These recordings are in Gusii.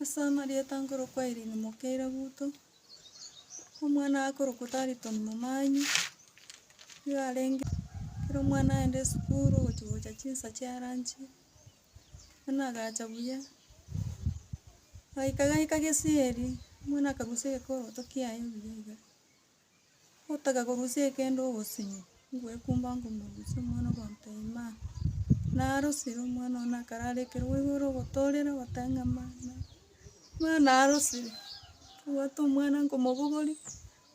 Ase amarieta nkorokwa Irene Mokeira Guto, omwana akorokwa Tariton Momanyi, nigo arenge ekero omwana aenda esukuru ogochia gocha chinsa chia lunch, omwana agacha buya, gaika gaika gesieri, omwana akarusia egekorogoto kiaye buya iga. Ogotaka korusia ekende ogosinyi, ngwekumba ngomorusia omwana okonto ima. Narosire omwana one akarara ekero boigo ore ogotorera ogoteba ng'a mama, mama narosire. Nabwate omwana nkomobogoria,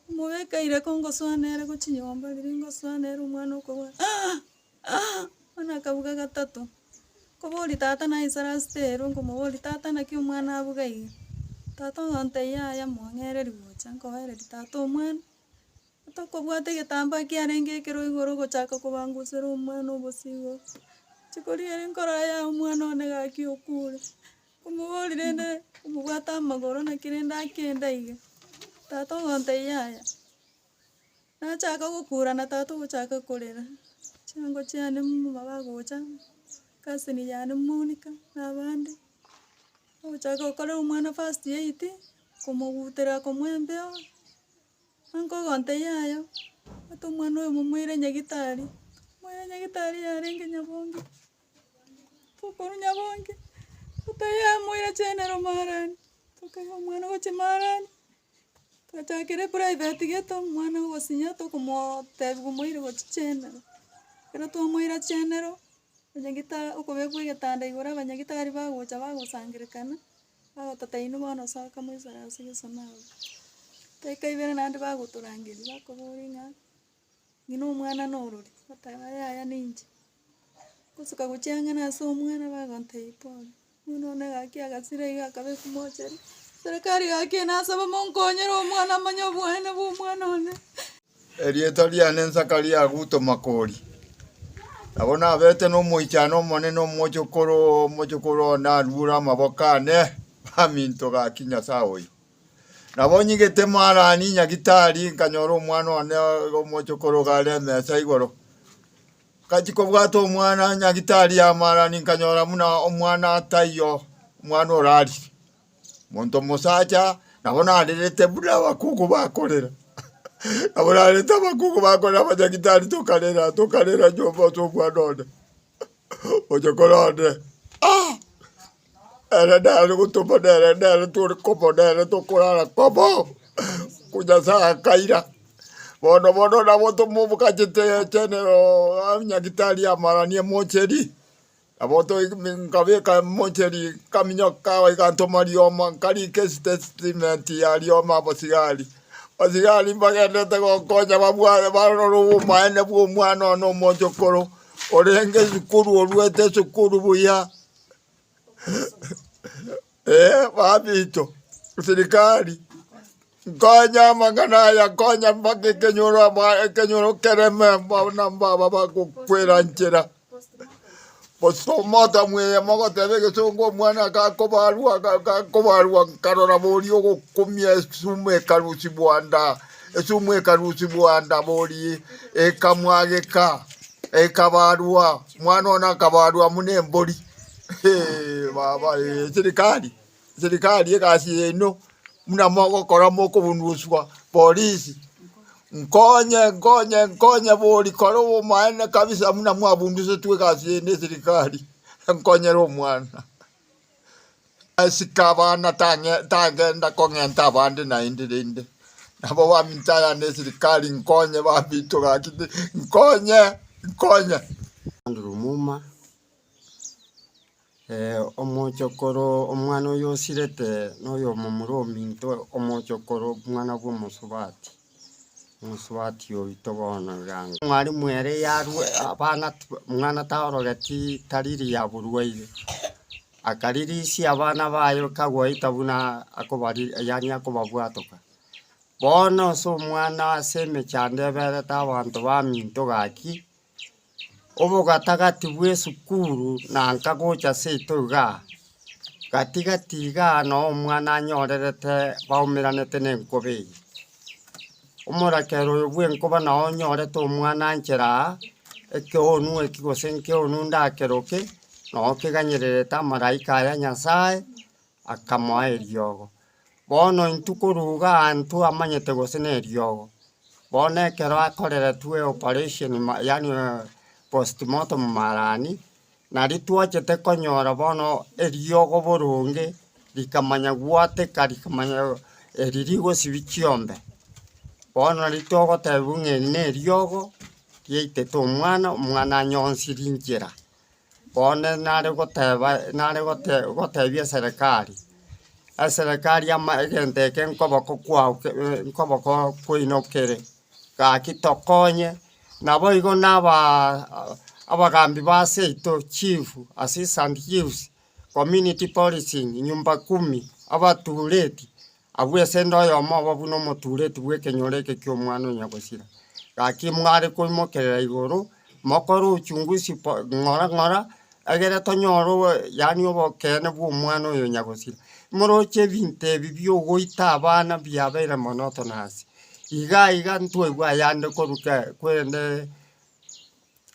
omobeka ire kongosoa nere gochinyomba riria ngosoa nere omwana okorwa aah! Aa! Bono akabuga gatato, nkoboria tata naye isare asete ere, nkomoboria, Tata, naki omwana abuga iga? Tata oyontebia, Yaya, mong'ereri gocha, nkoereria tata omwana. Tokobwata egetambaa kiarenge ekero igoro ogochaka kobangusera omwana obosie igoro. Rituko riarenge nkorora yaya omwana one gaki okure. Nkomoboria rende omobwate amagoro naki rende akenda iga. Tata oyontebia, Yaya. Nachaka gokura na tata ogochaka korera, chingo chiane mbu bagocha, cousin yane Monica na abande, bagochaka gokorera omwana first aid, komogutera komoembeo, ankogonte yayo, ata omwana oyo momoire nyagitari, moire nyagitari yarenge nyabongi, tokoru nyabongi, ata yamoire general maarani, tokaira omwana gochia maarani. Twachakire eprivate geto, omwana ogosinya tokomotebia omoire gochichenera, ekero twamoira chenero, onyagete okobekwa egetanda igoro abanyagitari bagocha bagosangererekana, bagototaini bono soka moisore ase egesona abwo. Daki ibere naende bagotorangeria bakobori ng'a. Ng'ina omwana norori, oteba, Yaya ninche. Gosuka gochia ang'e na ase omwana bagontebia pole. Omwana one gaki agasira iga akaba esimochere. Serikari gaki nasaba monkonyere omwana amanye obwanene bwa omwana one. Erieta riane Zakaria Aguto Makori. Nabo nabete nomoichano omonene omochokoro omochokoro one arure amaboko ane baminto gaki Nyasaye oyo. Nabo onyigete Moharani nyagitari, nkanyora omwana one omochokoro iga are emesa igoro. Nkachia kobwata omwana nyagitari ya Moharani, nkanyora buna omwana taiyo, omwana orarire. Monto mosacha nabo narerete buna abakungu bakorera. Nabo narerete abakungu bakorera abanyagitari tokarera, tokarera nyomba ase omwana one. Oche kore onde, ah! Ere nere gotoma nere nere tore komo nere tokorara komo. Nyasae akaira, bono bono nabo tomobokachete chenero nyagitari amaranie mocheri, nabo toi nkabeka mocheri nkaminyok kago iga ntoma rioma nkarika esitatement ya rioma abasigari. Abasigari mbagenderete gonkonya babwate barore obomaene bwa omwana one omochokoro. Orenge sukuru oruete sukuru buya. Eh, babito, sirikari, nkonye amang'ana aya, nkonye mpaka ekenyoro aba- ekenyoro kereme mbona mbaba bagokwera nchera. Bosa omoto mweye mogoteba egesongo omwana gakobarwa ga- gakobarwa nkarora boria ogokumia esuma ekarusibwa nda. Esumu ekarusibwa ndabori, ekamwageka, ekabarwa, omwana one akabarwa buna embori. Hee, baba ee, serikali, serikali egasi yaino buna mogokora mokobunuswa polisi, nkonye, nkonye, nkonye bori kora obomaene kabisa buna mwabunusetwe egasi yaino eserikali, enkonyere omwana. Isiko abana tang'e- tagenda kong'enta abande naende rende. Nabo baminto aya ne sirikari nkonye baminto gaki ti- nkonye, nkonye. Andrew Muma, eh, omochokoro omwana oyo osirete noyo omomura ominto omochokoro omwana bw'omosubati. Omosubati oito bono igango. Mwalimu ere yarwe abana omwana tarogeti tariri yaburueire akaririsia abana baye kagoita buna akobari yaani akobabwatoka. Bono ase omwana ase emechando eberete abanto baminto gaki obogatagati bw'esukuru na nkagocha seito iga, gati gati iga noo omwana anyorerete baumeranete nenkobe eye. Omorakera oyo bwenkoba noo onyorete omwana anchera aa, ekeonu eki gose nkeonu ndakero ki, noo keganyererete amaraika aya Nyasaye, Akamoa eriogo. Bono intwe koruga aantwe amanyete gose neriogo, bono ekero akoreretwe operation ma yaani postmortem marani, nari twachete konyora bono eriogo boronge rikamanya gwateka rikamanya eri rigosibia chiombe. Bono nari togotebiwa ng'a eri neriogo riaitete omwana, omwana anyonsiri nchera. Bono nare goteba, nare gote gotebia eserekari, eserekari ama egento eke nkoboko kwao ke nkoboko kwaino kere, gaki tokonye naboigo nabaa abagambi base yaito, chief, assistant chiefs, community policing, nyumba kumi, abatureti. Agwo esende oyomo obo buna omotuureti bw'ekenyoro eke ki'omwana o nyagosira. Gaki mware koimokerera igoro, mokore uchunguzi po- ng'ora ng'ora, egere tonyore obo yaani obokeene bw'omwana oyo nyagosira. Moroche ebinto ebi bi'ogoita abana biabeire monoto na ase. Iga iga ntwaigwa ayande korwa ke- kwerende.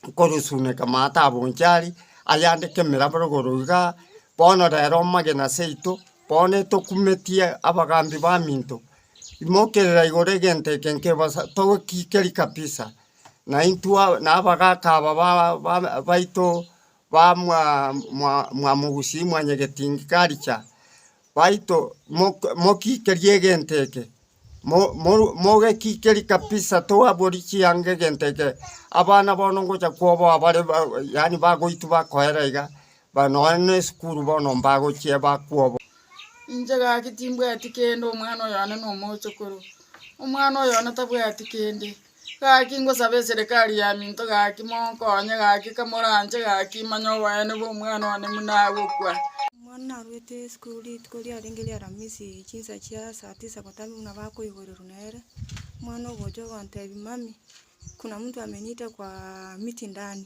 nkorusuneka mataabo inche aria, ayande kemerabaragoru iga, bono rero omagena seito, bono etokumetie abagambi baminto, imokerera igoro egento eke nkebasa togokikeria kabisa, naintwe naabagaka aba ba- ba- baito. ba mwa mwa mwamogusi mwanyegetingi karicha, baito mok mokikerie egento eke, mo moru mogekikerie kabisa toabori chianga egento eke, abana bono ngocha koboa bare ba yaani bagoitwa bakoera iga, ba nonya na esukuru bono mbagochia bakwobo. Inche gaki timbwati kende omwana oyo one nomochokoro, omwana oyo one tabwati kende, Gaki ngosabe eserekari ya minto gaki monkonye gaki kamoranche gaki manye oboene bw'omwana one buna agokwa. Omwana narwete esukuru rituko riarenge ri'Aramisi chinsa chia saa tisa gotamia buna bakoiborerwa nere. Omwana ogocha ogontebia, Mummy, kuna mtu ameniita kwa miti ndani.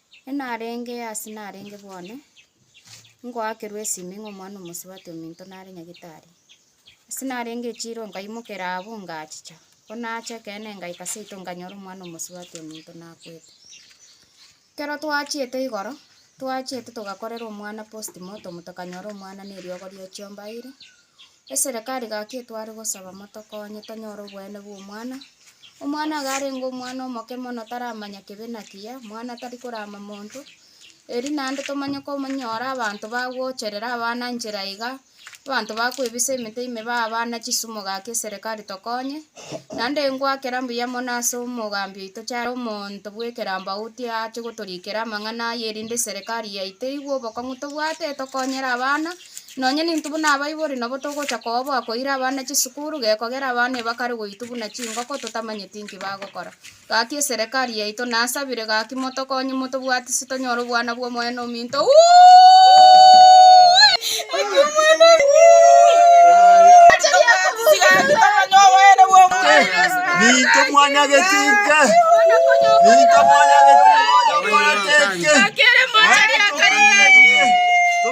enarenge ase narenge bwane, ngoakerwa esimi ng'a omwana omosubati ominto nare nyagetari. Ase narenge echiro nkaimokera abwo ngachicha, ko nacha ekeene ngaika seito nkanyora omwana omosubati ominto nakwete. Kero twachiete igoro, twachiete togakorera omwana postmortem tokanyora omwana neriogo riochiomba aire, Eserekari gaki etware gosaba motokonye tonyore obweene bw'omwana. Omwana iga arenge omwana omoke mono taramanya kebe na kiya, mwana tari korama monto. Eri naende tomanye komonyora abanto bagocherera abana nchera iga, abanto bakoebisa emete ime baa abana chisumo gaki eserekari tokonye. Naende ngwakera mbuya mono ase omogambi oito charo omonto bw'ekerambo auti ache gotorikera amang'ana aya erinde eserekari yaito eigwe obokong'u tobwate etokonyere abana Nonya n'intwe buna abaibori nabo togocha koboa koira abana chisukuru, gekogera abana ebakare goitwa buna chingoko totamanyeti nki bagokora. Gaki eserekari yaito nasabire gaki motokonye motobwati ase tonyore obwana bw'Omonene ominto.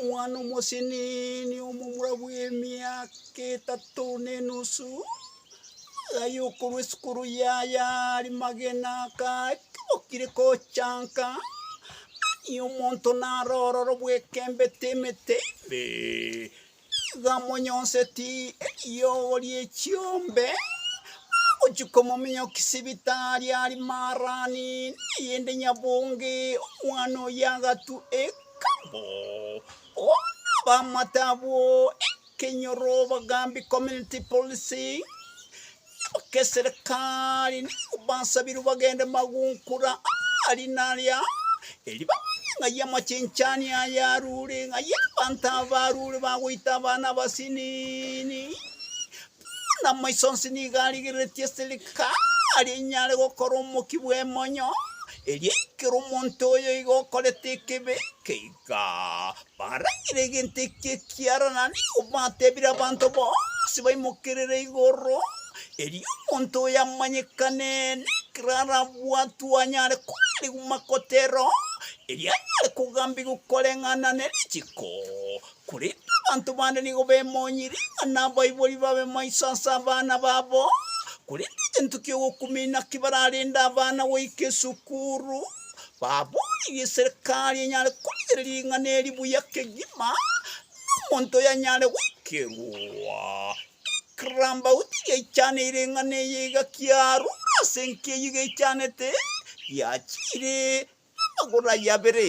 Omwana omosenini omomura bw'emiaka etato na enusu, aye okorwa esukuru yaye Arimagena, akabokire gochanka, aye omonto naro ororo bwekembete emete ime. Nigo amonyonseti eriogo rie chiombe, agochia komominyokia sibitari ari Marani, neyende nyabonge, omwana oyio agatwa ekabo. Bono abamate abwo ekenyoro, Bagambi Community Policing, Abakeserekari nigo basabirwe bagende magunkura aa rina ria eri bamanye ng'ai amachenchani aya arure, ng'ai abanto aba arure bagoita abana abasinini. Bono amaiso onsi nigo arigereretie eserekari enyare gokora omokia bw'emonyo, eria eikera omonto oyoigo okorete ekebe ekeiga. Ka baragire egento eke ekiara na nigo batebire abanto bonsi baimokerere igoro, erio omonto oyo amanyekane, na ekero arabwatwe anyare koarigwa makotero, erio anyare kogambigwa koreng'ana ne rechiko. Korende abanto bande nigo bemonyire, ng'a nabaibori babe maiso ase abana babo, korende egento ki'ogokumina ki bararende abana goika esukuru, Baboorigwe eserekari enyare korigereria ring'ana eri buya kegima, na omonto oyanyare goikerwa. Ekerambauti geichaneire ring'ana eye iga kiarure ase enka eyio geichanete, giachiire amagoro ayio abere.